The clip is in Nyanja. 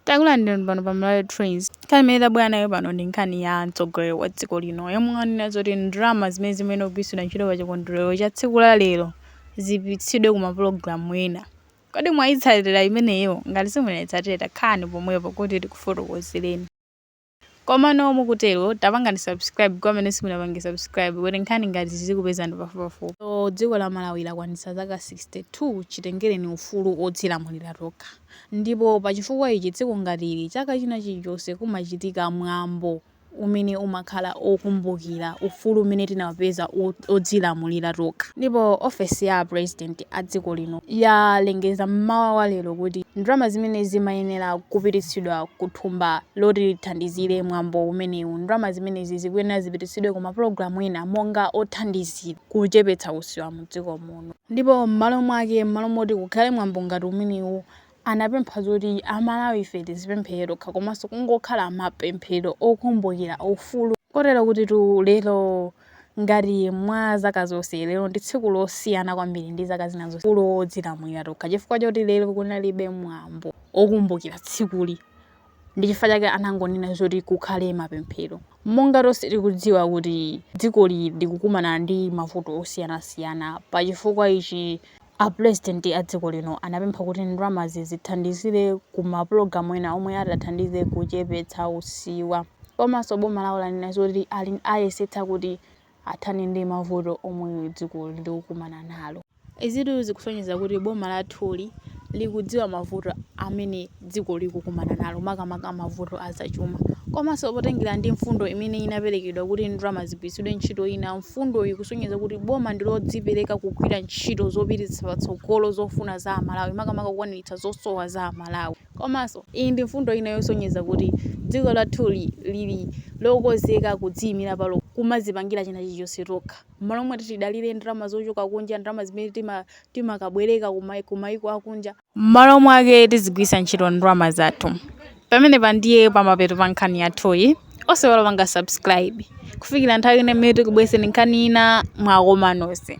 Takulandirani pano pa Malawi Trends. Nkhani imene tabwera nayo pano ndi nkhani ya mtsogoleri wa dziko lino yomwe wanena zoti ndalama zimene zimayenera kugwiritsidwa ntchito pa chikondwerero cha tsiku la lero zipititsidwe ku mapulogalamu ena. Kodi mwayitsatira imeneyo? Ngati simunaitsatire khalani pomwepo kuti tikufotokozereni. Komano mukutero tapangani subscribe kwa amene simunapange subscribe kuti nkhani ngati izi zizikupezani pafupipafupi. So dziko la Malawi lakwanitsa zaka 62 chitengereni ufulu odzilamulira tokha. Ndipo pa chifukwa ichi tsiku ngati ili chaka china chilichonse kumachitika mwambo umene umakhala okumbukira ufulu umene tinapeza odzilamulira tokha. Ndipo ofesi ya a president a dziko lino yalengeza m'mawa wa lero kuti ndalama zimene zimayenera kupititsidwa ku thumba loti lithandizire mwambo umenewu, ndalama zimenezi zikuyenera zipititsidwe ku mapulogalamu ena monga othandizira kuchepetsa usiwa mdziko muno. Ndipo m'malo mwake, m'malo moti kukhale mwambo ngati umenewu, anapempha zoti a Malawife tizipemphera tokha komanso kungokhala mapemphero okumbukira ufulu kotero kutitu lero ngati mwa zaka zonse, lero ndi tsiku losiyana kwambiri ndi zaka zina zonse, ufulu wodzilamulira tokha chifukwa choti lero kunalibe mwambo wokumbukira tsikuli. Ndi chifukwa chake anangonena zoti kukhale mapemphero. Monga tonse tikudziwa kuti dzikoli likukumana ndi mavuto osiyanasiyana, pa chifukwa ichi a pulezidenti a dziko lino anapempha kuti ndalamazi zithandizire ku mapulogalamu ena omwe atathandize kuchepetsa usiwa. Komanso boma lawo lanena zoti liyesetsa kuti athane ndi mavuto omwe dziko likukumana nalo. Izitu zikusonyeza kuti boma lathuli likudziwa mavuto amene dziko likukumana nalo, makamaka mavuto a zachuma. Komanso potengera ndi mfundo imene inaperekedwa kuti ndalama zigwiritsidwe ntchito ina, mfundoyi ikusonyeza kuti boma ndi lodzipereka kugwira ntchito zopititsa patsogolo zofuna za Amalawi, makamaka kukwaniritsa zosowa za Amalawi. Komanso, iyi ndi mfundo ina yosonyeza kuti dziko lathuli lili lokonzeka kudziimira palokha, kumadzipangira china chilichonse tokha, m'malo moti tidalire ndalama zochoka kunja, ndalama zimene timakabwereka kumayiko akunja. M'malo mwake, tizigwiritsa ntchito ndalama zathu. Pamenepa ndiye pamapeto pa nkhani yathuyi. Osaiwala kupanga subscribe. Kufikira nthawi ina imene tikubweretsereni nkhani ina, mwakoma nonse.